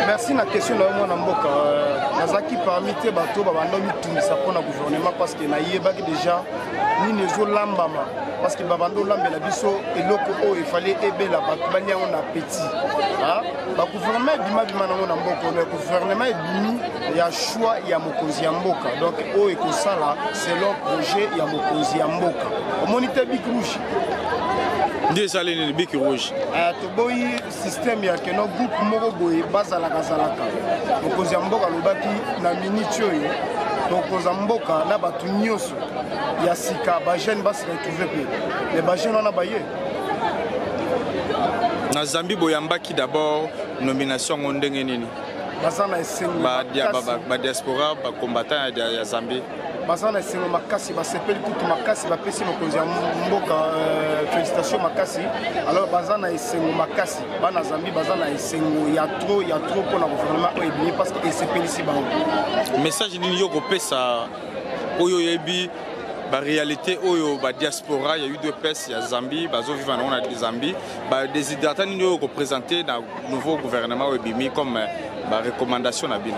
merci na question na yo mwana mboka euh, nazalaki parmi te bato babanda mitungisa mpo na gouvernement parce que nayebaki déjà nini ezolambama parce que babanda olambela biso eloko oyo efali ebela bato bani yango na petit bagouvernement ebima bima nango na mboka oyo gouvernement ebimi ya choix ya mokonzi ya mboka donc oyo ekosala selon projet ya mokonzi ya mboka omoni te bik rouge nde esali nini bik rouge ah, toboyi système ya keno groupe moko boye bazalaka zalaka mokonzi ya mboka alobaki na miniti oyo tokoza mboka na bato nyonso ya sika bajeune basi retrouve mpe me bajeune wana baye na zambi boyambaki d'abord nomination yango ndenge nini baza na esengo badiaspora bacombattant ya zambi baza na esengo makasi basepeli kutu makasi bapesi mokonzi ya mboka euh, félicitation makasi alors baza na esengo makasi bana zambi baza na esengo ya tro ya tro mpo na gouvernement oyo ebimi parce que esepelisi bango message nini yo kopesa oyo oyebi baréalité oyo badiaspora ya udps ya zambie bazoviva nango na zambie badesidrata nini oyo kopresente na nouveau gouvernement oyo ebimi comme euh, ba recommandation na bino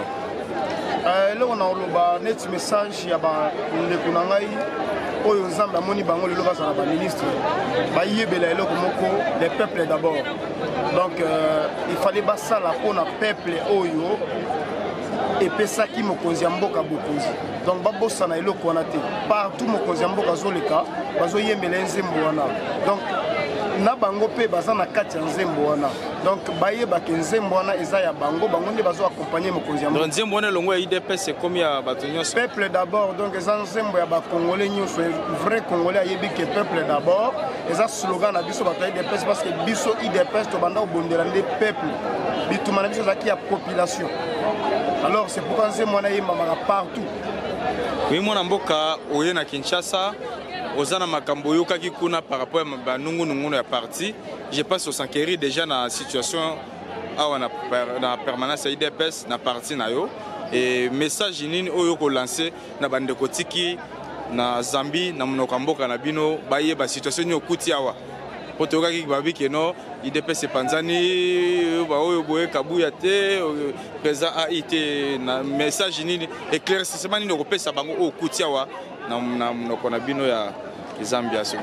euh, eloko na koloba neti message ya bandeko na ngai oyo nzambe amoni bango lelo bazala baministre bayebela eloko moko le peuple d'abord donc euh, il fallait basala mpona peuple oyo epesaki mokonzi ya mboka bokonzi donc babosana eloko wana te partout mokonzi ya mboka azoleka bazoyembela ye nzembo wana donc na bango mpe baza na kati ya nzembo wana donc bayebake nzembo wana eza ya bango bango nde bazo accompagne mokonzi ya nzembo wana elongo ya idps ekomi ya bato nyonso peuple d'abord donc eza nzembo ya bacongolais nyonso vrai congolais ayebi ke peuple d'abord eza slogan na biso bato ya idps parce que biso idps tobanda kobondela nde peuple bituma na biso ezalaki ya population alors c'est pourquoi nzembo wana eyembamaka partout oye mwana mboka oye na kinshasa oza na makambo oyokaki kuna par rapport ya banungunungunu ya parti je pense osankeri déjà na situation awa na, per, na permanence ya idps na parti na yo e message nini oyo okolanse na bandeko tiki na Zambie na monoko ya mboka na bino bayeba situation nini okuti awa mpo toyokaki babi keno idps epanzani baoyo boye kabuya te président ai te na message nini éclaircissement nini okopesa bango oyo okuti awa na monoko na bino ya eza ambiance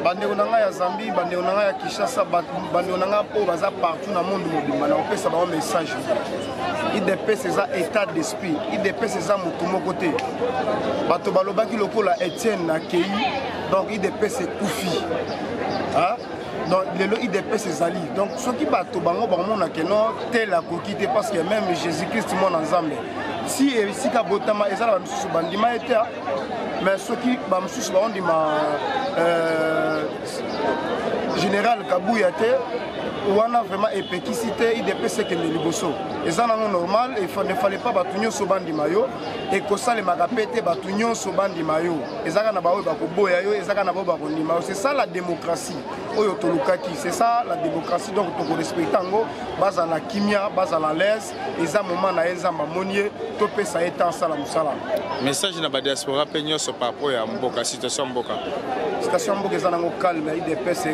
bandeko na ngai ya zambie bandeko na ngai ya kinshasa bandeko na ngai oyo baza partout na monde mobimba na kopesa bango message idps eza état d'esprit idps eza motu moko te bato balobaki lokola etienne na kei donc idps ekufi donc lelo idps ezali donc soki bato bango bamonake no tel akoki te parce que même jésus christ mwana nzambe si esika botama ezalaka misusu bandima ye te mais soki bamosusu baondima euh, général kabuya te wana vraiment epekisi te idps ekende liboso eza nango normal ne fallait pas bato nyonso bandima yo ekosalemaka mpe te bato nyonso bandima yo ezaka na baoyo bakoboya yo ezaka na baoyo bakondima yo c'est ça la démocratie oyo tolukaki c'est ça la démocratie donc tokorespecte yango bazala kimia bazala lese eza moment na ye nzambe amoni ye topesa ye temps asala mosala message na badiaspora mpe nyonso par rapport ya mboka situation mboka situation mboka eza nango calme ya idps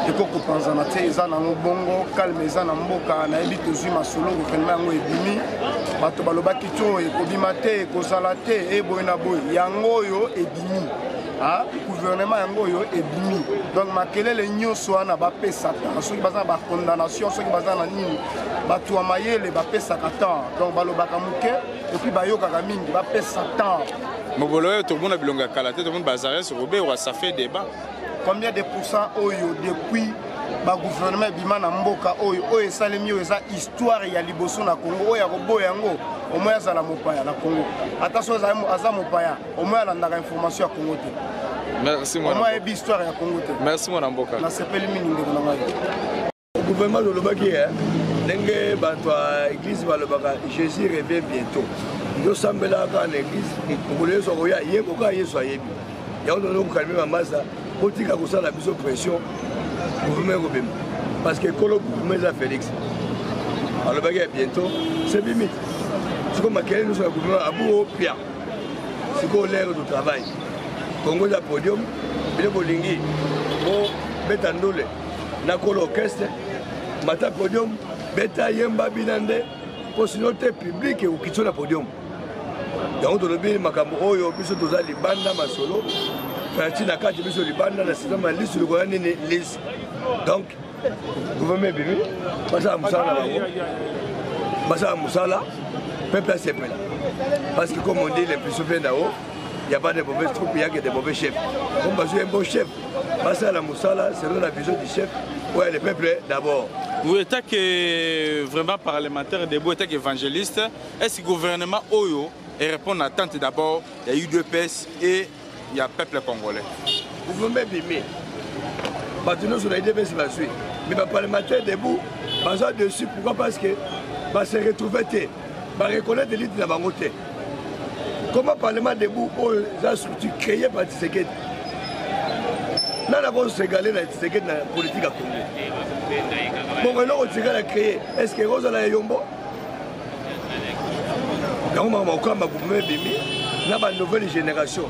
ekokopanzana te eza nango bongo calme eza na mboka nayebi tozwi masolo gouvernement yango ebimi bato balobaki to ekobima te ekozala te eboye na boye yango oyo ebimi gouvernement yango oyo ebimi donc makelele nyonso wana bapesaka soki baza na bacondamnation soki baza na nini bato ya mayele bapesaka temps donc balobaka moke epuis bayokaka mingi bapesa temps mobolo oyo tomona bilongo ya kala te tomoni bazares roberwa ça fait débat combien de pourcent oyo depuis bagouvernement ebima na mboka oyo oyo esalemi oyo eza histoire ya liboso na congo oyo akoboya yango omoi azala mopaya na congo ata so aza mopaya omoi alandaka information ya congo te merci mwana mboka merci mwana mboka nasepeli mingi ndeko na ngai gouvernement lolobaki eh, ndenge bato ya église balobaka jésus revient bientôt yosambelaka kaka na église mokolo yesu akoya ye kokaa yesu ayebi yango tono kokalme bamasa kotika kosala biso pression gouvernement ekobema parce que kolo gouvernement eza félix alobaki ya bientôt c'est bimi sikoyo makelele nyonso ya gouvernement abu opia sikoyo lere du travail kongo eza podium bino bolingi bobeta ndole na kolo orchestre mata podium beta yemba bina nde mpo sino te publike ekokitio na podium yango tolobi makambo oyo biso toza libanda masolo franci na kati biso libanda na sisama lisu likola nini lisu donc gouvernement ebimi basala mosala na bango basala mosala peuple asepela parce que comme on dit les plus souvena o ya pas de mauvais troupe yake de mauvais chef comme bazoye mbo chef basala mosala selon la vision du chef oyo le peuple d'abord vous état que vraiment parlementaire debout état que évangéliste est ce que gouvernement oyo et répondre à l'attente d'abord ya udps et ya peuple congolais gouvernement ebimi bato nyonso na udps bazwi mais baparlementaire debout baza dessus pourquoi parce que base retrouve te ba reconnaître elite na bango te comment parlement debout oyo eza structure créé par tisekedi nani akosegali na tisekedi na politique ya congo bongo eloko tisekedi a créé est ce que ekozala ya yombo yango makambo okamba gouvernement ebimi na ba nouvelle génération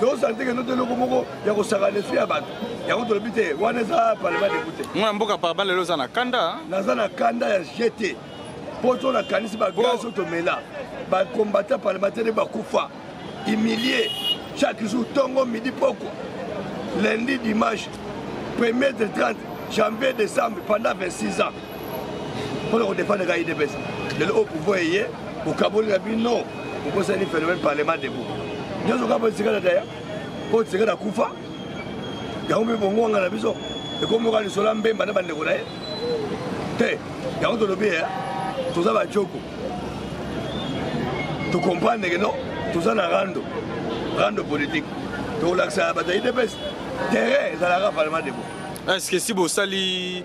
tozosanteke noto eloko moko ya kosakana esu ya bato yango tolobi te wana eza parlement debu te mwana mboka parba lelo oza na kanda naza na kanda ya gt mpo to nakanisi bagaz oyo tomela bacombatant parlementaire bakufa humilie chaque jour tongo midi pokwa lundi dimanche premier de 30 janvier décembre pendant 26 ans mpona kodefendre ka idps lelo oyo pouvoir eye okaboli na bino okosani phénomène parlement debout nyonso kaka esika na daya oyo tisika na kufa yango mpe bongwanga na biso ekomoka lisolo ya mbemba na bandeko na ye te yango tolobi ya toza bajoko tokomprendre ke no toza na rando rando politique tokolakisa bato ya idps terrain ezalaka parlement debout est ce que si bosali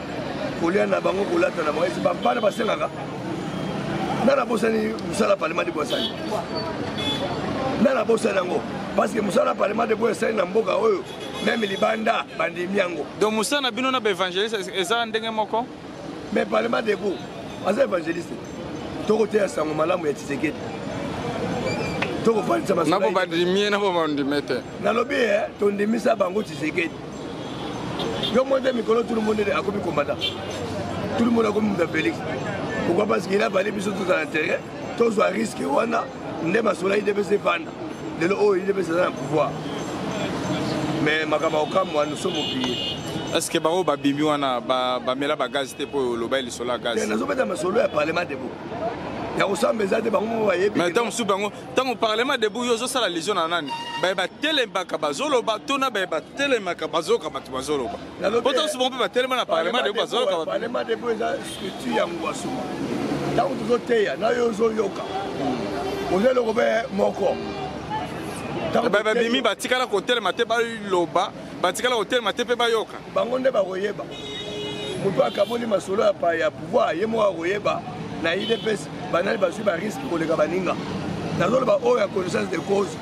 kolia na bango kolata na bango esi bampana basengaka ngai nabosani mosala parlement de bwasani ngai nabosani yango parce que mosala parlement de bwasani na mboka oyo meme libanda bandimi yango donc mosala na bino na baevangeliste eza ndenge moko mais parlement de bo aza evangeliste tokoteya sango malamu ya tisekedi tokofandisa masnabo bandimie nabo bandime te nalobi eh, tondimisa bango tisekedi Yo mwen de mikolo tout le monde est akomi combattant. Tout le monde akomi muta Felix. Pourquoi parce qu'il a valé biso tout à l'intérieur. Tous à risque wana nde masola il devait se vendre. Lelo oh il devait se dans pouvoir. Mais makama okamwa nous sommes oubliés. Est-ce que bango babimi wana bamela ba bagage te mpo oloba lisolo ya gaz nazobeta masolo ya parlement debo ya kosamba eza te bango bayebi mais ntango mosusu bango ntango parlement debout yo ozosala lision na nani baye batelemaka bazoloba to na baye batelemaka bazoyoka bato bazoloba po tosuma mpe batelema na parlement debout bazoloka parlement debout eza structure ya ngwasuma ntango tozoteya na yo ozoyoka hmm. oza eloko mpe moko babimi batikala kotelema te baloba Batikala kotelema te mpe bayoka. Bango nde bakoyeba. Moto akaboli masolo ya pa ya pouvoir ye moko akoyeba na idps banani bazwi bariske koleka baninga nazoloba oyo ya connaissance de cause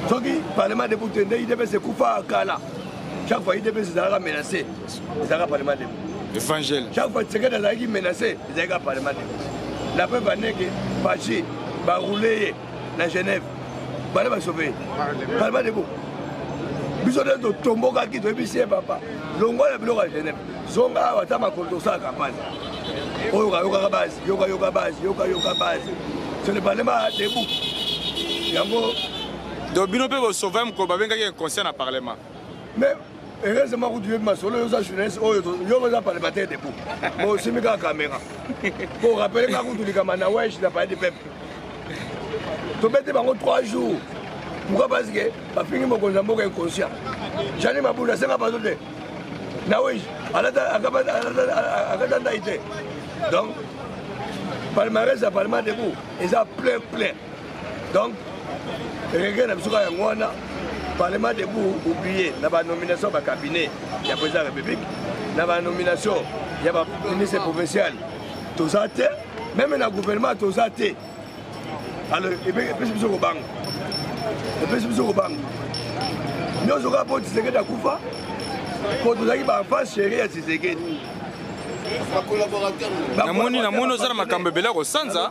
soki parlement debout te nde idps ekufa kala chaque fois idps ezalaka menace ezalaka parlement debout évangile chaque fois tshisekedi azalaki menace ezalaki ka parlement debout la preuve aneke paci baroule ye na genève bana basope parlement de bo biso nde totombokaki toyebisi ye papa longwa na biloko ya genève zonga awa ata makolo tosala kampane oyo kayokaka base yokayoka base yokayoka base ce ne parle pas debout yango donc bino mpe bosauve mokolo babengaki inconscient na parlement mais heureusement kutu yebi masolo yoza journaliste oyo yo oza parlementaire debout mo osimbi kaka caméra po orapele nga kutu likama na wesh na palais du peuple tobete bango 3 jours pourquoi parce que bafingi mokonzi ya mboka inconscient jani mabunda asenga bato te na wesh akata ndai te donc palmarès ya parlement debout eza plein plein donc regret na biso kaka yango wana parlement debout oublie na banomination ya bacabinet ya président ya république na banomination ya baministre provincial toza te meme na gouvernement toza te alors epesi biso kobanga epesi biso kobanga nyonso kaka mpo tisekedi akufa mpo tozalaki baenfance chérie ya tisekedi namoni namoni oza na makambo ebele ya kosanza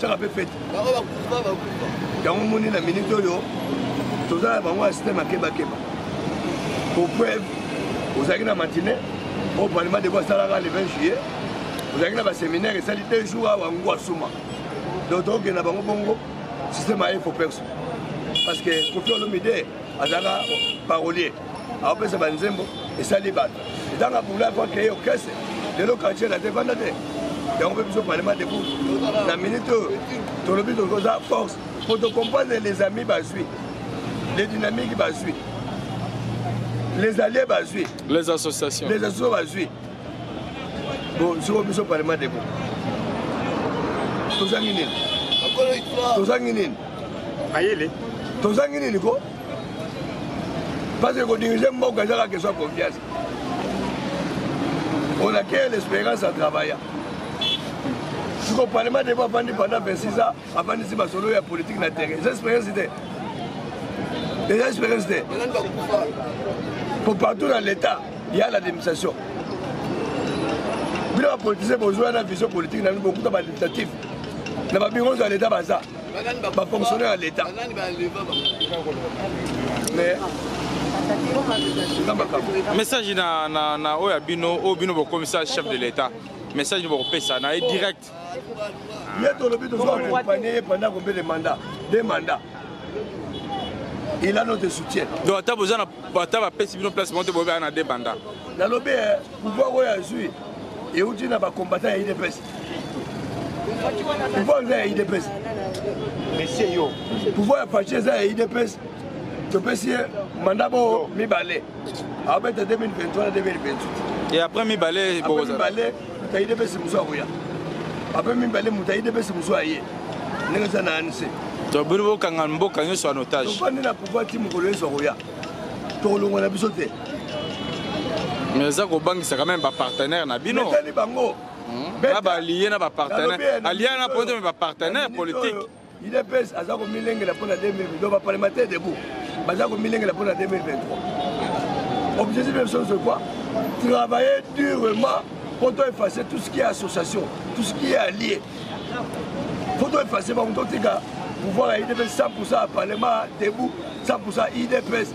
tyaka mpe fete yango moni na minute oyo toza na bango ya systeme akebakeba pour preuve ozalaki na matine oyo palima deko asalaka le 20 juillet ozalaki na baseminaire esali deux jours awa ngo asuma donc tokokenda bango bongo systeme aye fo perso parce que kofi olomide azalaka parolier aopesa banzembo esali bato etanga bula po akreye orchestre lelo quartier na te vanda te yango mpe biso parlement debout na minute oyo tolobi toza force mpo tocomprendre les amis bazwi les dynamiques bazwi les alliés bazwi les associations les associations bazwi bon siko biso parlement debout tozangi nini tozangi nini mayele tozangi nini ko parce que kodirige mboka eza kaka keswa confiance on a créé l'espérance à travailler siko parlement debo afandi pendant 26 ans afandisi basolo ya politique na terrain eza expérience te eza expérience te po partout na l'état ya la démisation bino bapolitisien bozwa na vision politique na bino bokuta badictative na babiro nyonso ya l'état baza bafonctionnaire ya leta message na, na, na oyo ya bino oyo bino bokomisa chef de l'état message bokopesa na ye direct ye tolobi tozoakompanye ye pendant combien de mandat de mandat il a notre soutien donc ata boza na ata bapesi bino place moko te boyebaa na de mandat nalobi eh, pouvoir oyo azwi euti na bacombattant ya idps pouvoir eza ya idps monsieur yo pouvoir ya faci eza ya idps topesi ye manda bo mibale abeta 2023 na 2028 et après mibale mibale moto ayi depesi mosu akoya après mibale moto ayi depesi mosu aye ndenge eza na anc tobili bokanga mboka nyonso en otage tofandi na pouvoir ti mokolo nyonso akoya tokolongwa na biso te mais eza kobangisa quand même bapartenaire na bino etali bango na balie na bapartenaire alia na ponte me bapartenaire politique idps aza komilengela mpo na 2020 donc baparlementaire debout baza komilengela mpo na 2023 objectif ya biso nyonso quoi travailler durement mpo to effacer tout ce qui est association tout ce qui est allié mpo to effacer bango totika pouvoir ya idps 100 à parlement debout 100 idps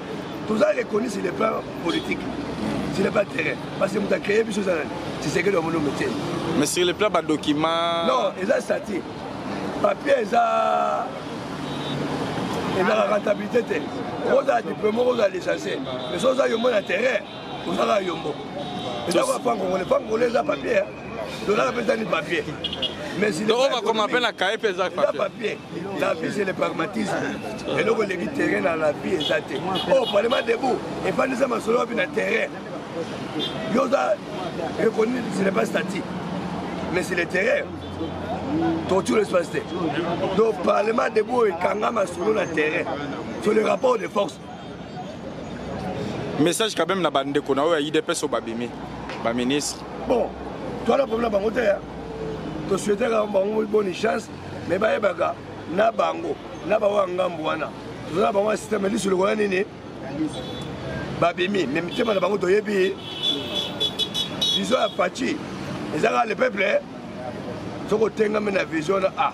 toza reconnu sur le plan politique sur le plan terrain parce que moto acreye biso eza nani tisekeli wa molombe te mais sur le plan badocument non eza sati papier eza ezaka rentabilité te okozala diplome okozala licencie mais so oza yombo na terrain ozalaka yombo eza kwa pan congolais pan congolais eza papier tolaka mpe ezali papier oyo bakoma mpe na kaye mpe eza papier la vie c'est le pragmatisme eloko eleki terrain na la vie eza te oyo oh, parlement debout efandisa masolo wapi na terrain yo oza reconnu ce n'est pas statique mais c'est le terrain torture l'espace te donc parlement debout oyo ekanga masolo na terrain sur le rapport de force message quand même na bandeko na oyo ya idps oyo babimi baministre bon toala problème na bango te tosuetaka bango boni chance mais bayebaka na bango na bango ya ngambo wana toza na bango ya systeme lisu lokola nini babimi mais mitema na bango toyebi vision ya paci ezaka le peuple soki otengami na vision na a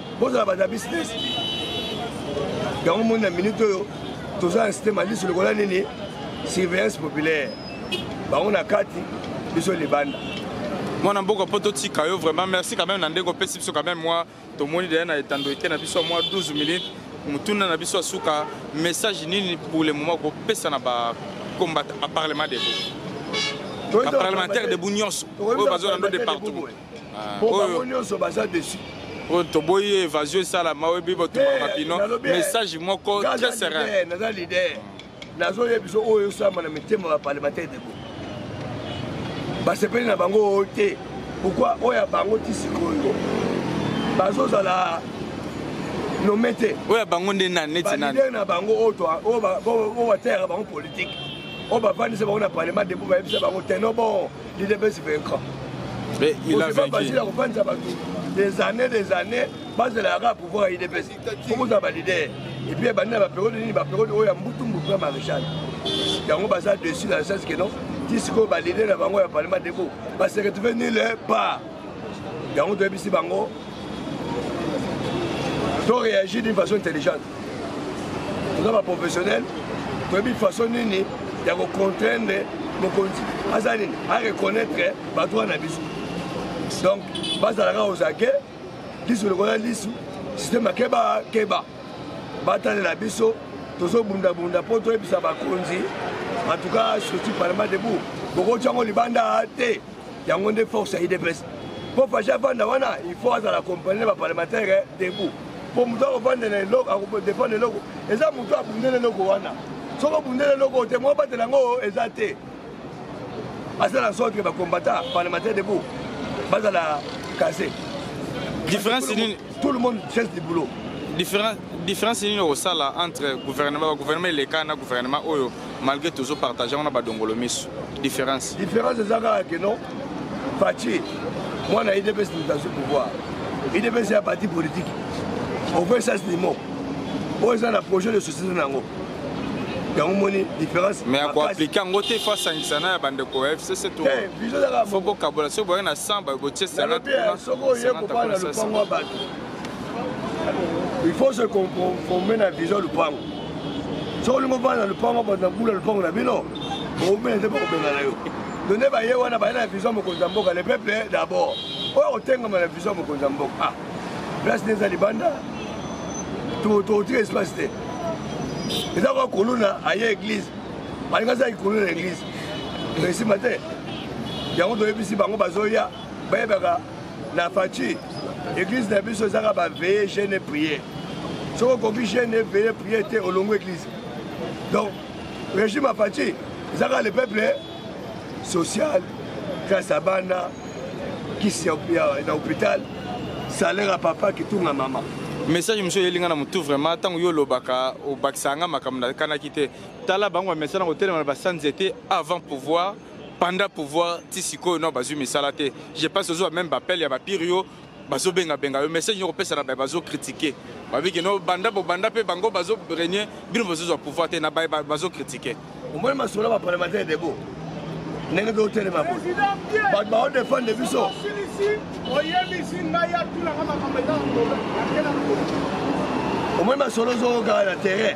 bozala bato ya business yango moni na minute oyo toza na site malisu lokola nini surveillance populaire bango na kati biso libanda mwana mboka mpo totika yo vraiment merci quand même na ndenge opesi biso quand même mwa tomoni deya na etando ete na biso ya mwa 12 minutes motuna na biso ya suka message nini pour le moment kopesa na bacombat aparlement debout baparlementaire debout nyonso oyo bazolando de partout ah, po bango nyonso baza desu oyo toboyi ye évasion esalama oyo ebi botumaka mapino message moko très serein naza leader nazoyeba biso oyo esalama na mitema ya parlementaire debo basepeli na bango oyo te pourkui oyo ya bango ti sikoyo bazozala nome te oyo ya bango nde nani neti nani na bango oyo bateyaka bango politike oyo bafandisa bango na parlement debo bayebisa bango teno bon L'UDPS vaincra. Mais il a vaincu. Basila kopanza bato des années des années bazela yaka pouvoir ya UDPS. Kokozala ba leader. Et puis bandi na ba période nini ba période oyo ya mbutu mbutu na maréchal. Yango baza dessus na sens que non ti sikoyo ba leader na bango ya parlement deko ba se retrouver nulle part. Yango toyebisi bango to réagir d'une façon intelligente. toza ba professionnel toyebi façon nini ya kocontraindre mokonzi aza nini areconnaitre badroit na biso donc bazalaka ozake lisu lokola lisu systeme akeba keba batalela biso tozobundabunda mpo toyebisa bakonzi en tout cas structure parlement debout bokotyango libanda te yango nde force ya idps mpo fashi avanda wana il faut azala accompagne na baparlementaire debout mpo moto akofandela eloko akofandela eloko eza moto abundela eloko wana soki obundela eloko te mwa batela yango eza te asala sorte ke bacombata parlementaire debout bazala kase différence nini tout le monde cherche du boulot différence nini okosala entre gouvernement bagouvernement eleka na gouvernement oyo malgré tozo partage yango na badongolo miso différence différence eza kaka ke non faci mwana idps moto azwi pouvoir idps ya parti politique okoki sas limo oyo eza na projet de société na yango yango moni différence mais akoaplike yango te fo asangisa na ya bandeko ya fcc tofo bokabola soki boyaki na 100 botie senatsoki oye kobana lopango ya bato il faut se conformer na vision lupango soki olingi ovanda na lupango bato na bula lupango na bino oumela nde bakobenga na yo to nde baye wana baye na vision mokonzi ya mboka le peuple d'abord oyo akotengama na vision mokonzi ya mboka ah place nde eza libanda totika espace te eza kwa koluna aye église balingi azalaki koluna na église esima te yango toyebisi bango bazoya bayebaka na faci eglise na biso ezaka baveye jeune prier soki okoki jeune eveye prier te olongo eglise donc régime ya faci ezaka le peuple social classe ya bana kisi na hôpital salaire ya papa kitunga mama message mosusu eyeli ngai na motu vraiment ntango yo olobaka obakisaka ngai makambo nakanaki te tala bango bamesana kotelema na basanze te avant pouvoir Panda pouvoir ti sikoyo no bazui misala te. Je pense ozo même appel ya ba pire yo bazo benga benga yo message yo pesa na ba bazo critiquer. Ba biki no banda bo banda pe bango bazo régner bino bazo zo pouvoir te na ba bazo critiquer. Omoni masolo ba parlementaire debout. Ndenge ko telema bo. Ba ba défendre biso. Oyebisi ngai atulaka makambo eza na problème. Omoni masolo zo kaka na terrain.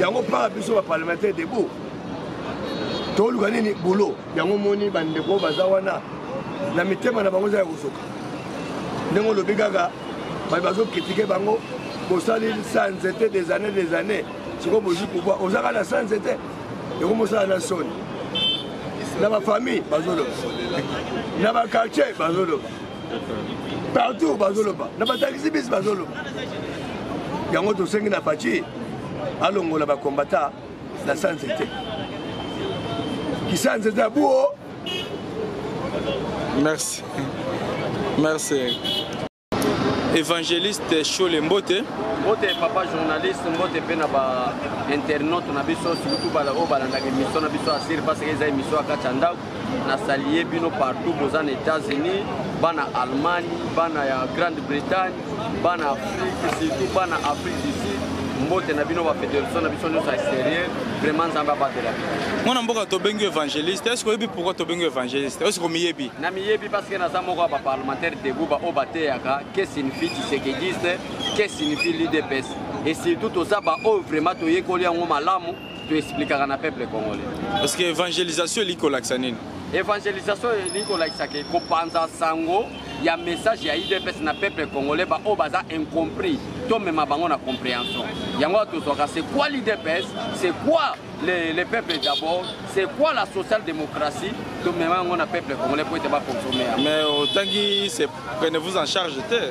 yango mpaka biso baparlementaire debout toluka nini bulo yango moni bandeko baza wana na mitema na bango eza ya kosoka ndenge olobi kaka bato bazokritike bango bosali sa nzete des années des années sikoyo bozwi pouvoir oza kaka na sa nzete ekomosala na soni na bafamille bazoloba na bakartier bazoloba partout bazoloba na batakisi bisi bazoloba yango tosengi na faci alongola bakombata na sanze te kisanze eza buo merci merci évangéliste shole mbote mbote papa journaliste mbote mpe na bainternaute na biso surtout bala oyo balandaka émission na biso asir parce que eza émission ya kati ya ndako na salie bino partout boza na états-unis bana allemagne bana ya grande bretagne bana afrique surtout bana afrique du sud mbote na bino bafederation na biso nyonso ya extérieur vraiment nzambe abatela bino mwana mboka tobengi évangéliste est ce oyebi pourquoi tobengi évangéliste est ce komiyebi na miyebi parce que naza moko ya baparlementaire debout baoyo bateyaka que signifie tshisekegiste que signifie lidps et surtout toza baoyo vraiment toyekoli yango malamu to explikaka na peuple congolais parce que évangélisation eliki kolakisa nini évangélisation eliki kolakisa ke kopanza sango ya message ya idps na peuple congolais baoyo baza incompris tomema bango na compréhension yango tozwaka c'est quoi l'idps c'est quoi les, les peuples d'abord c'est quoi la social démocratie tomema yango na peuple congolais mpo ete baconsomme yango mais otangi prenez vous en charge te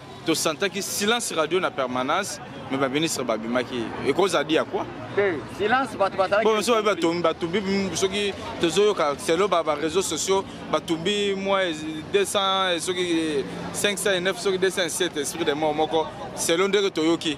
tosantaki silence radio na permanence me baministre babimaki ekozadi ya kua silence bato bazalakimosusu babi batumbi batumbi soki tozoyoka selo bareseau sociaux batumbi mwa 200 soki 509 soki 207 esprit de mort moko selo ndenge toyoki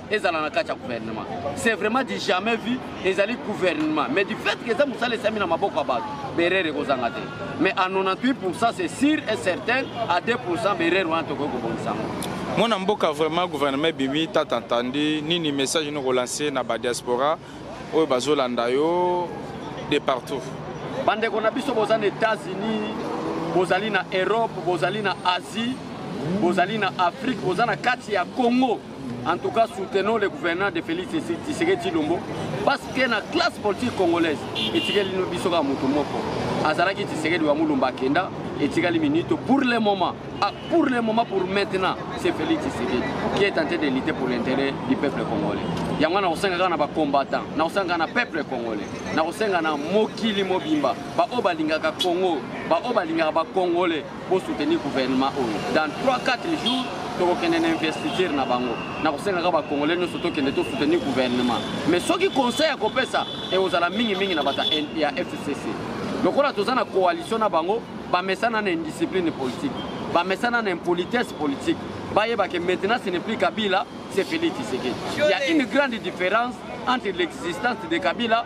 ezala na kati ya gouvernement c'est vraiment du jamais vu ezali gouvernement mais du fait que eza mosala esami na maboko ya bato berere ekozanga te mais à 98 pourcent c'est sûr et certain à 2 pourcent berere wana tokoki kobongisa yango mwana mboka vraiment gouvernement ebimi tata ntandi nini message ino kolanse na badiaspora oyo bazolanda yo de partout bandeko na biso boza na états-unis bozali na europe bozali na asie bozali na afrique boza na kati ya congo En tout cas, soutenons le gouvernement de Félix Tshisekedi Tshilombo parce que la classe politique congolaise etikeli no biso ka mutu moko azalaki Tshisekedi wa Mulumba akenda etikali minute pour le moment ah, pour le moment pour maintenant c'est Félix Tshisekedi qui est tenté de lutter pour l'intérêt du peuple congolais yango na kosenga kaka na bacombattant na kosenga na peuple congolais na kosenga na mokili mobimba baoyo balingaka Congo baoyo balingaka bacongolais Bo soutenir gouvernement oyo. Dans 3-4 jours, tokokende na investiture na bango na kosengaka bakongole nyonso tokende tosoutenir gouvernement mais soki conseil ya kopesa ekozala mingimingi na bato ya fcc lokola toza na coalition na bango bamesana na indiscipline politique bamesana na impolitesse politique bayeba ke maintenant ce n'est plus kabila c'est félix tshisekedi il y a une grande différence entre l'existence de kabila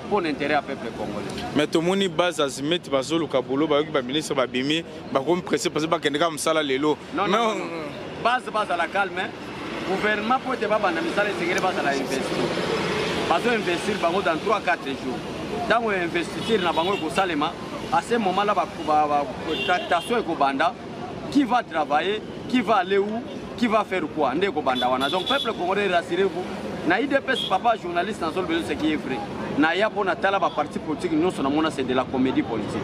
pour l'intérêt ya peuple congolais mais tomoni base azimeti bazoluka bolo bayoki baministre babimi bakomi presse parce bakende kaka mosala lelo base bazala calme gouvernement mpo ete babanda misala esengeli bazala investir bazo investir bango dans 3 4 jours ntango ya investiture na bango ekosalema à ce moment là tractation ekobanda qui va travailler qui va aller où qui va faire quoi nde ekobanda wana donc peuple congolais rassurez-vous na idps papa journaliste na zolobelo ce qui est vrai naya mpo natala baparti politique nyonso namona c'est de la comédie politique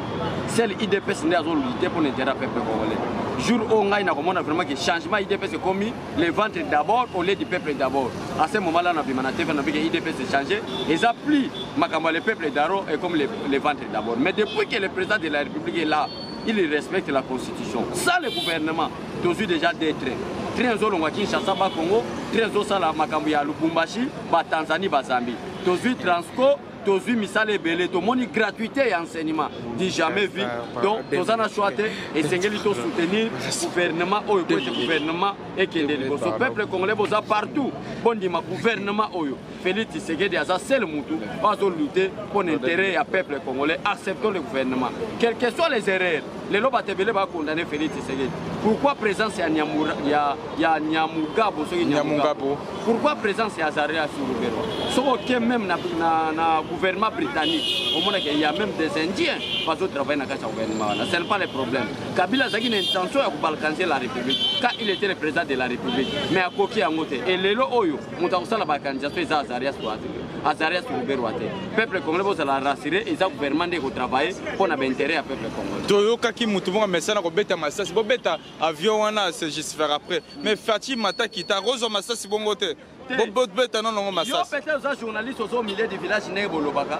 sel idps nde azolite mpo na intérêt ya peuple congolais jour oyo ngai nakomona vraiment ke changement idps ekomi le ventre d'abord au lieu du peuple d'abord à ce moment là nabima na tv nabi ke idps echange eza plus makambo ya le peuple daro ekomi le ventre d'abord mais depuis que le président de la république est là il respecte la constitution ça le gouvernement tozwi déjà deux train train ezolongwa kinshasa bakongo train ezosala makambo ya lubumbashi batanzanie bazambi tozwi transco tozwi misala ebele tomoni gratuité ya enseignement du jamais vu donc toza na choix te esengeli tosoutenir gouvernement oyo po ete gouvernement ekende liboso peuple congolais boza partout bondima gouvernement oyo Félix Tshisekedi aza seul mutu oyo azo lutter mpo na intérêt ya peuple congolais acceptons le gouvernement quel que soit les erreurs lelo bato ebele bakondane Félix Tshisekedi pourquoi présence ya, Nyamura, ya, ya Nyamugabo soki Nyamugabo pourquoi présence ya Azaria Surubero soki oke même na, na, na gouvernement britannique omonaka ya même des indiens bazo travaille na kati ya gouvernement wana ce n'est pas le problème Kabila azalaki na intention ya kobalkaniser la république quand il était le président de la république mais akoki yango te et lelo oyo moto akosala baorganisation eza azarias to azarias ruberwa te peuple congolais bozala rassure eza gouvernement nde ekotravaille mpo na bainteret ya peuple congolais toyokaki motu moko amesana kobeta masasi bobeta avion wana se justifier après mais faci mataki takozwa masasi bongo te bobeta nonongo masasi yo pete oza journaliste oza au milieu du village ndenge bolobaka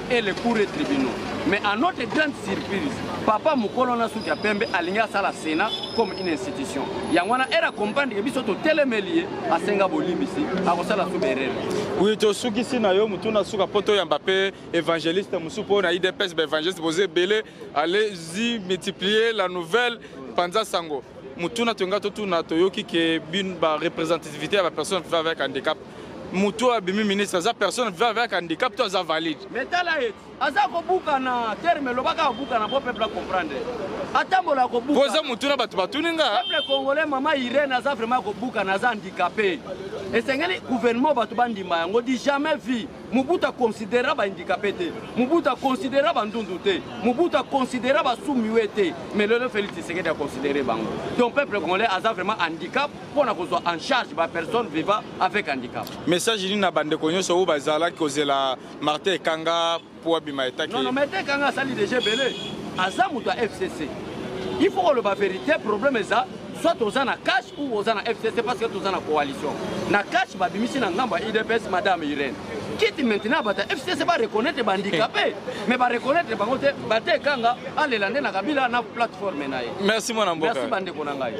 et les cours et tribunaux. Mais à notre grande surprise, papa mukolo na suki ya pembe alingi asala Sénat comme une institution. Yango wana era comprendre que biso totelemeli ye asenga bolimbisi akosala suka erreur. Oui, tosukisi na yo mutu na suka poto yamba pe évangéliste musu po na IDPS ba évangéliste boze belé allez-y multiplier la nouvelle panza sango. Mutuna tonga totuna toyoki ke bin ba représentativité ya ba personnes avec handicap moto oyo abimi ministre aza personne vivant avec handicap to aza valide mais tala ye aza kobukana terme elobaka abukana po peuple acomprendre atambola kobuka oza motuna bato batuni nga peuple congolais mama irene aza vraiment kobukana aza handicapé esengeli gouvernement bato bandima yango di jamais vie mobutu aconsidera bahandicapé te mobutu aconsidera bandundu te mobutu aconsidera basumiwe te mais lelo félix tshisekedi aconsidere bango donc peuple congolais aza vraiment handicap mpo na kozwa en charge ba personnes vivant avec handicap message nini na bandeko nyonso oyo bazalaki kozela martin ekanga mpo abima etaki non, non, martin ekanga asali deja ebele aza moto ya fcc il faut koloba verité problème eza soit oza na cash ou oza na fcc parce que toza na coalition na cash babimisi na ngambo ya idps madame irene kiti maintenant bata fcc bareconnaitre bandikape mais bareconnaitre bango te bate ekanga alela nde na kabila na plateforme na ye merci mwana mboka merci bandeko na ngai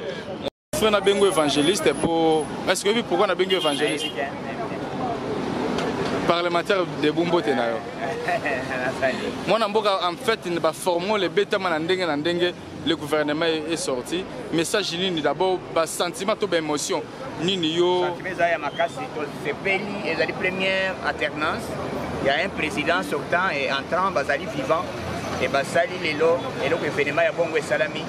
Frère na bengo évangéliste pour est-ce que oui pourquoi na bengo évangéliste parlementaire de Bumbote na yo. Mwana mboka en fait ne ba former les bêtes na ndenge na ndenge le gouvernement est sorti message nini d'abord ba sentiment to ba émotion nini yo sentiment ya makasi to sepeli ezali première alternance il y a un président sortant et entrant bazali vivant e basali lelo eloko evenema ya bongo esalami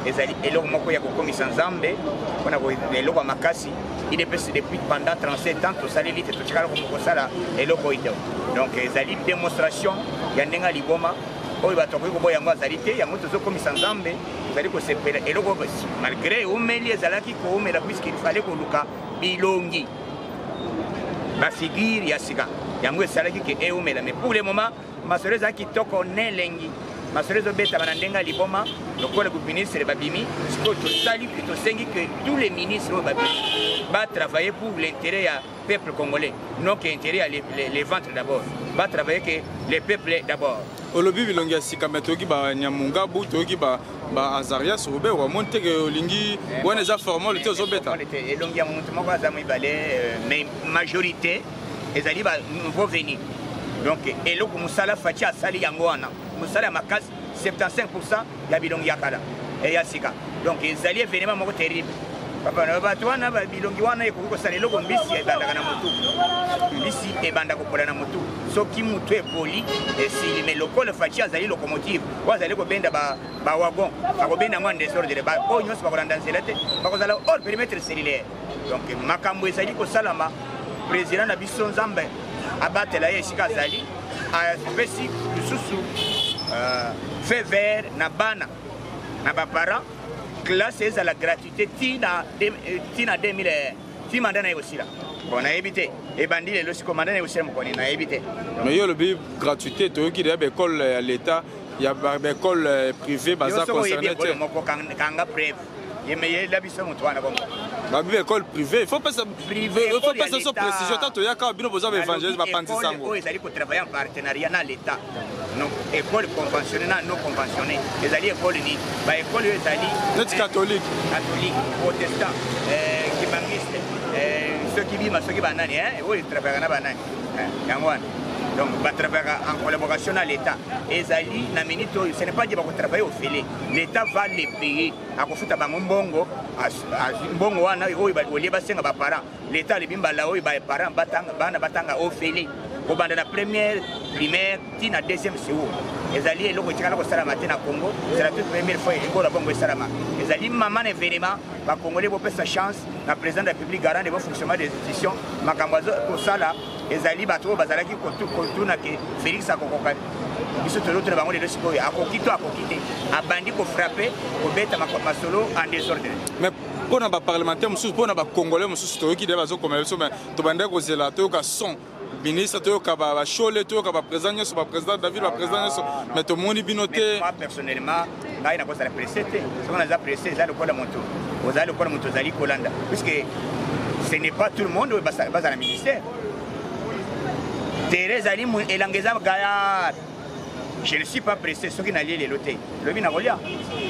ezali eloko moko ya kokomisa nzambe mpona eloko ya makasi idps depuis pendant 37 ans tosaleli te totikala kosala eloko oyo te donc ezali démonstration ya ndenge ya liboma oyo bato bakoki koboya yango azali te yango tozokomisa nzambe tozali kosepela eloko malgré eumeli ezalaki koumela puiske ifale koluka bilongi bafigure ya sika yango esalaki ke eumela mais pour le moment Masolo eza kitoko na elengi. Masolo ezobetama na ndenge ya liboma lokola baministre babimi sikoyo. Tosali mpe tosengi que tous les ministres oyo babimi batravaille pour l'intérêt ya peuple congolais non que intérêt ya les, les, les ventres d'abord batravaille que les peuples d'abord. olobi bilongi ya sika me toyoki banyamungabu toyoki baazarias obe wamoni teke olingi wana eza formole te ozobeta elongi ya motu moko aza mibale euh, mais majorité ezali ba nouveau venu donc eloko mosala faci asali yango wana mosala ya makasi 75 pourcent ya bilongi ya kala eh, ya sika donc ezali evenema moko terrible bato wana bilongi wana ekoki kosala eloko mbisi ebandaka na motu mbisi ebanda kopola na motu soki motu epoli esili me lokola faci azali locomotive oyo azali kobenda bawagon akobenda yango ya desordre baoyo nyonso bakolanda nzela te bakozala or perimetre cellulaire donc makambo ezali kosalama président na biso nzambe abatela ye esika azali apesi lisusu euh, fait vert na bana na baparent classe ezala gratuité ti na 2000 euh, ti manda na ye kosila bon nayebi te ebandi lelo siko manda na ye kosila mokoni nayebi te mais yo olobi gratuité toyoki deya baekole ya l'état ya baekole euh, privé baza concerne te moko kanga preuve babi ba école privé faut pesa faut pesa so précision ata toyaka bino boza baévangélise bapanzi sango oyo ezali kotravaille en partenariat na l'état école conventionné na non conventionné ezali école nini baécole oyo ezali neti catholique catholique protestant euh, kimangiste euh, soki bima soki banani oyo etravaillaka na banani yango wana donc batravaillaka en collaboration na l'état ezali na minute oyo ce n'est pas di bakotravaille ofele l'etat va les payer akofuta bango mbongo mbongo wana oyo olie basenga baparent l'etat alebi mbala oyo baparent bana batanga ofele kobanda na première primaire ti na deuxième secour ezali eloko etikala kosalama te na congo ezala toute première fois ekola bongo esalama ezali mama na evenema bakongole bopesa chance na président de la république garant de bon fonctionnement des institutions makambo azokosala ezali bato oyo bazalaki kotuna ke félix akokoka biso tozotuna bango lelo sikoyo akoki to akoki te abandi kofrape kobeta masolo en desordre mais mpo na baparlementaire mosusu mpo na bacongolais mosusu toyoki deya bazokomela biso mai tobandaki kozela toyoka son ministre toyoka bashole toyoka baprésident nyonso baprésident david baprésident nyonso mai tomoni bino te ngai nakozala presse te soki naza presse eza lokola moto ozali lokola moto ozali kolanda puiske ce n'est pas tout le monde oyo bazala ministère tere ezali elanga eza gayar je ne suis pas pressé soki nalie lelo te lobi nakolia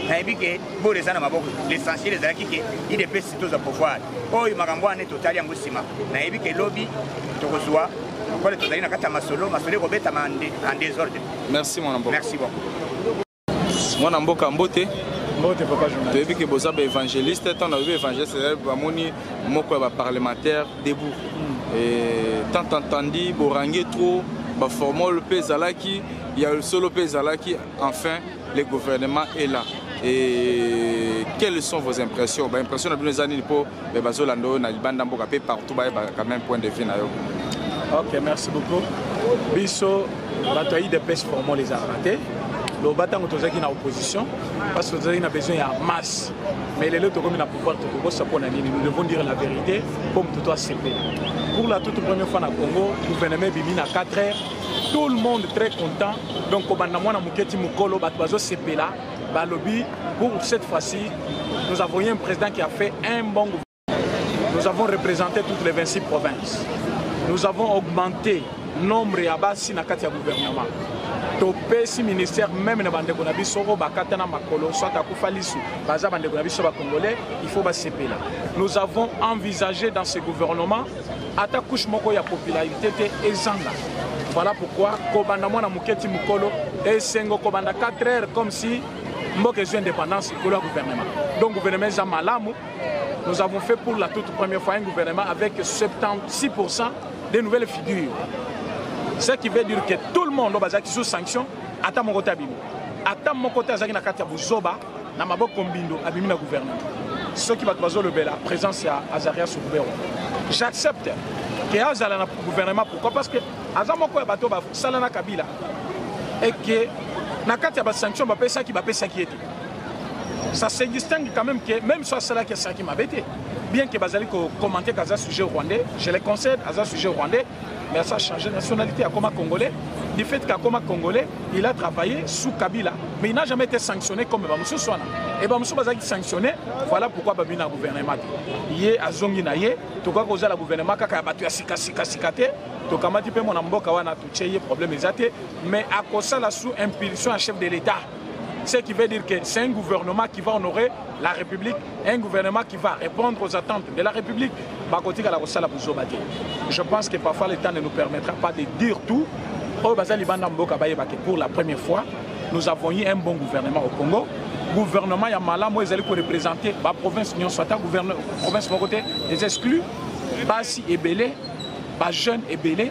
nayebi ke bolo eza na maboko l'essentiel ezalaki ke idps tozwa pouvoir oyo makambo wana totali yango nsima nayebi ke lobi tokozwa lokola tozali na kati ya masolo masolo ekobetama en désordre merci mon merci beaucoup mwana mboka mbote toyebi ke boza baevangeliste ntango nayebi evangeliste ezali bamoni moko ya baparlementaire debout hmm. tant entandi borange trop baformole mpe ezalaki ya solo mpe ezalaki enfin le gouvernement est là et quelles sont vos impressions baimpression na bino eza nini mpo mais bazolanda oyo na libanda mboka mpe partout bayebaka quand même point de vue na yo ok merci beaucoup biso bato ya idps formol ezalaka te loba ntango tozalaki na opposition parce que tozalaki na besoin ya masse mais lelo tokomi na pouvoir tokokosa mpo na nini nous devons dire la vérité mpo moto to asepela pour la toute première fois na congo gouvernement ebimi na 4 heures tout le monde très content donc kobanda mwana moke ti mokolo bato bazosepela Balobi, pour cette fois-ci, nous avons eu un président qui a fait un bon gouvernement. Nous avons représenté toutes les 26 provinces. Nous avons augmenté le nombre de Bassi dans le gouvernement. topesi ministère meme na bandeko na biso oyo bakata na makolo soit akufa lisu baza bandeko na biso bacongolais il faut basepela nous avons envisagé dans ce gouvernement ata couche moko ya popularité te ezanga voilà pourquoi kobanda mwana moke ti mokolo esengo kobanda 4 heures comme si mboka ezwi indépendance likolo ya gouvernement donc gouvernement eza malamu nous avons fait pour la toute première fois un gouvernement avec 76 des nouvelles figures ce qui veut dire que tout le monde oyo bazalaki sous sanction ata moko te abimi ata moko te azalaki na kati ya buzoba na maboko mbindo abimi na gouvernement soki bato bazolobela présence ya azaria soubero j'accepte ke azala na gouvernement pourquoi parce que aza moko ya bato basala na kabila et que na kati ya basanction bapesaki bapesaki ye te ça se distingue quand même que même soit asalaki asalaki mabe te bien que bazali kokomante kaza sujet rwandais je le conseille aza sujet rwandais mais à changer nationalité comme congolais du fait qu'à comme congolais il a travaillé sous Kabila mais il n'a jamais été sanctionné comme Bamusu Swana et Bamusu Bazaki sanctionné voilà pourquoi Babi na gouvernement ye azongi na ye tokoki kozala gouvernement kaka ya bato ya sika sika sika te tokamati mpe mwana mboka wana totie ye problème eza te mais akosala sous impulsion ya chef de l'état ce qui veut dire que c'est un gouvernement qui va honorer la république un gouvernement qui va répondre aux attentes de la République, bakotika la kosala buzoba te. Je pense que parfois le temps ne nous permettra pas de dire tout. Oh, bazali banda mboka baye bake pour la première fois, nous avons eu un bon gouvernement au Congo. Gouvernement ya malamu ezali ko représenter ba province nyonso ata gouvernement province moko te, les exclus, basi ebele, ba jeunes ebele.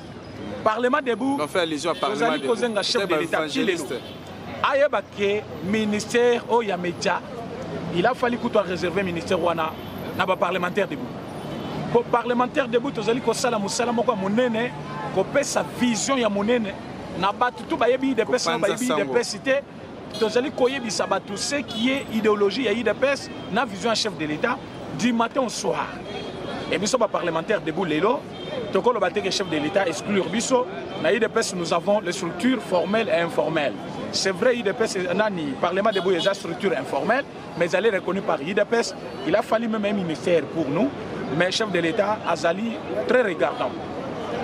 parlement debout tozali kozenga chef de l'état ti lelo ayeba ke ministère oyo ya media il a fallu kutu areserve ministère wana na baparlementaire debout mpo parlementaire debout tozali kosala mosala moko ya monene kopesa vision ya monene na bato tu bayebi idps na bayebi idps te tozali koyebisa bato ce qui est idéologie ya udps na vision ya chef de l'état du matin au soir e biso baparlementaire debout lelo tokoloba te ke chef de l'état exclure biso na udps nous avons les structures formelles et informelles c'est vrai udps nani parlement debout eza structure informelle mais ezali reconnu par udps il a fallu même un ministère pour nous mais chef de l'état azali très regardant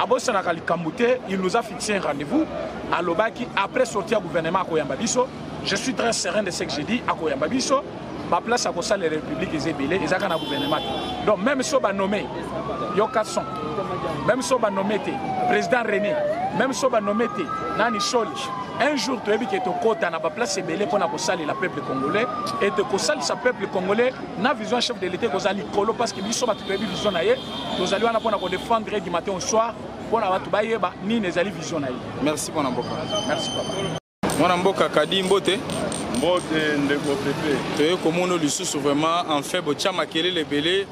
abosanaka likambo te il nous a fixé un rendez-vous alobaki après sorti ya gouvernement akoyamba biso je suis très serein de ce que j'ai dit akoyamba biso baplace akosalela république eza ebele eza kaka na gouvernement te donc même so banome yo 400 même so banome te président rené même so banome te nani soli un jour toyebi ke tokota na baplace ebele mpo na kosalela peuple congolais et kosalisa peuple congolais na vision ya chef de l'état ekozala likolo parce que biso bato toyebi vision na ye tozali wana mpo na kodefendre ye du matin au soir mpo na bato bayeba nini ezali vision na ye merci mpo na mboka merci papa mwana mboka kadi mbote mbote ndeko pepe toye komona lisusu vraiment enfin botya makelele ebele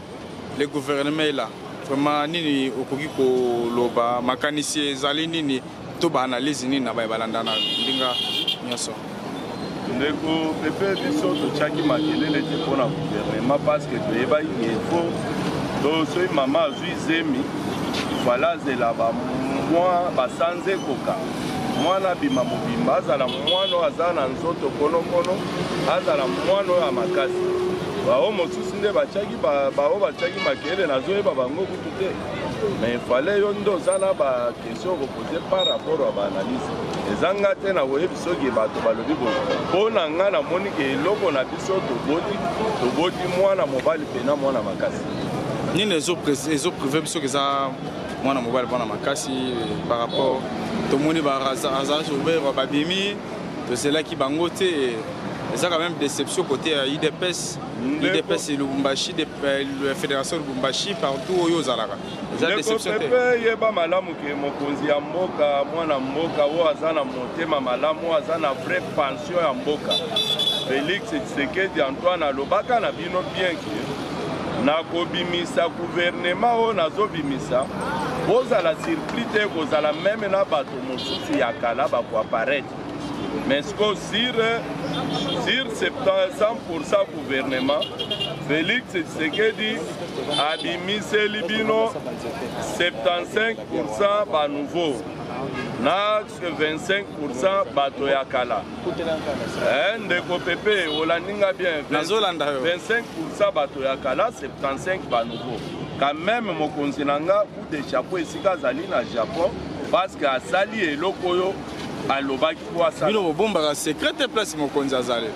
Le gouvernement est là. Vraiment nini okoki koloba makanisi ezali nini to ba analyse nini na baye balandana ndinga nyonso ndeko pepe biso totyaki makelele te mpo na guvernema parce que toyebaki info to soki mama azwi zemi fala azela bamwa basanza ekoka mwana abima mobimba azala mwana oyo aza na nzoto konokono azala mwana oyo ya makasi baoyo mosusu nde batiaki baoyo batiaki makele nazoyeba bango kutu te mais fale yo nde oza na baquestion okopose par rapport ya baanalyse eza nga te nakoyebi soki bato balobi boye mpo na nga namoni ke eloko na biso toboti toboti mwana mobali mpe na mwana makasi nini ezoprive biso ke eza mwana mobali mwana makasi par rapport tomoni barazage oberwa babimi tozelaki bango te eza quand même déception côté ya idps udps lubumbashi de euh, fédération lubumbashi partout oyo ozalaka eza déception te mpe yeba malamu ke mokonzi ya mboka mwana mboka oyo aza na motema malamu oyo aza na vrai pension ya mboka félix tshisekedi antoine alobaka na bino bien ke nakobimisa guvernema oyo nazobimisa bozala surpris te kozala meme na bato mosusu ya kala bakoaparete Mais ce qu'on sur, sur 100% gouvernement, Félix Tshisekedi a bimisé Libino 75% bas nouveau. na 25 bato ya kala eh, ndeko pepe olandi nga bien 25 bato ya kala 75 banouveau quand même mokonzi na nga coup de chapeau esika azali na japon parce que asali eloko oyo alobaki po asala bino bobombaka secret te place mokonzi azali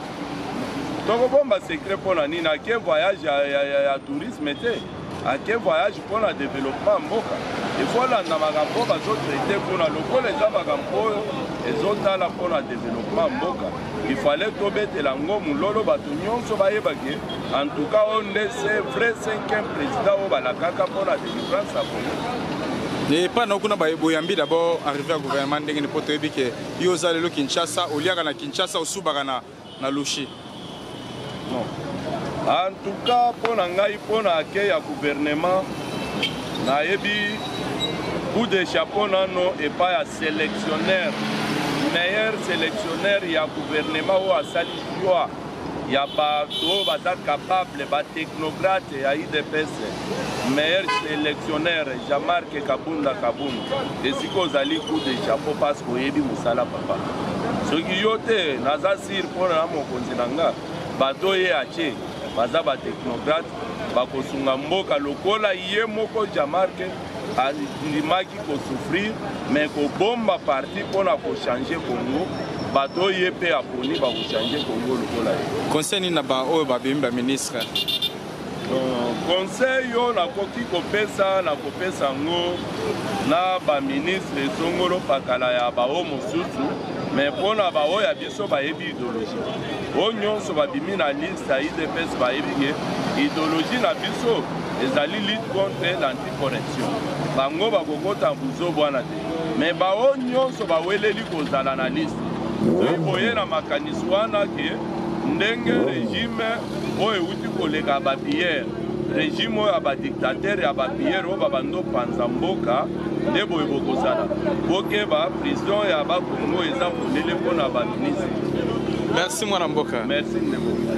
tokobomba secret mpo na nini ake voyage ya, ya, ya, ya tourisme te ake voyage mpo na développement mboka ekolanda makambo oyo bazotraite kuna lokola eza makambo oyo ezotala mpo na développement mboka ifale tobetela yango mololo bato nyonso bayebake en tout cas oyo nde se vrai cinquième président oyo balakaka mpo na epa na kuna boyambi d'abord arrivé ya gouvernement ndenge nini mpo toyebi ke yo oza lelo kinshasa oliaka na kinshasa osubaka na, na lushi non en tout cas mpo na ngai mpo na ake ya gouvernement nayebi coup de chapeau nano epai ya sélectionnaire meilleur sélectionnaire ya gouvernement oyo asali joi ya batu oyo baza capable ba technocrate ya udps meilleur selectionneur jean marc kabunda kabund esika ozali coup de chapeau parce que oyebi mosala papa soki yo te naza sir mpo na mokonzi na nga bato ye atie baza ba technocrate bakosunga mboka lokola ye moko jean marc andimaki ko souffrir mais kobomba parti mpo na kochange congo bato oyo ye mpe aponi bakochange congo lokola ye conseil nini na baoyo babimi baministre euh, conseil oyo nakoki kopesa na kopesa yango na baministre esongolo pakala ya baoyo mosusu mais mpo na baoyo ya biso bayebi ideologie oyo nyonso babimi na liste Sa udps bayebi ke ideologie na biso ezali lutte contre l'anticorruption bango bakokota buzobu wana te me baoyo nyonso baweleli kozala na liste soki boye na makanisi wana ke ndenge regime oyo euti koleka bapiyere regime oyo ya badiktatere ya bapiyere oyo babando panza mboka nde boye bokozala bokeba prison ya bakongo eza polele mpo na baministre merci mwana mboka merci ndeko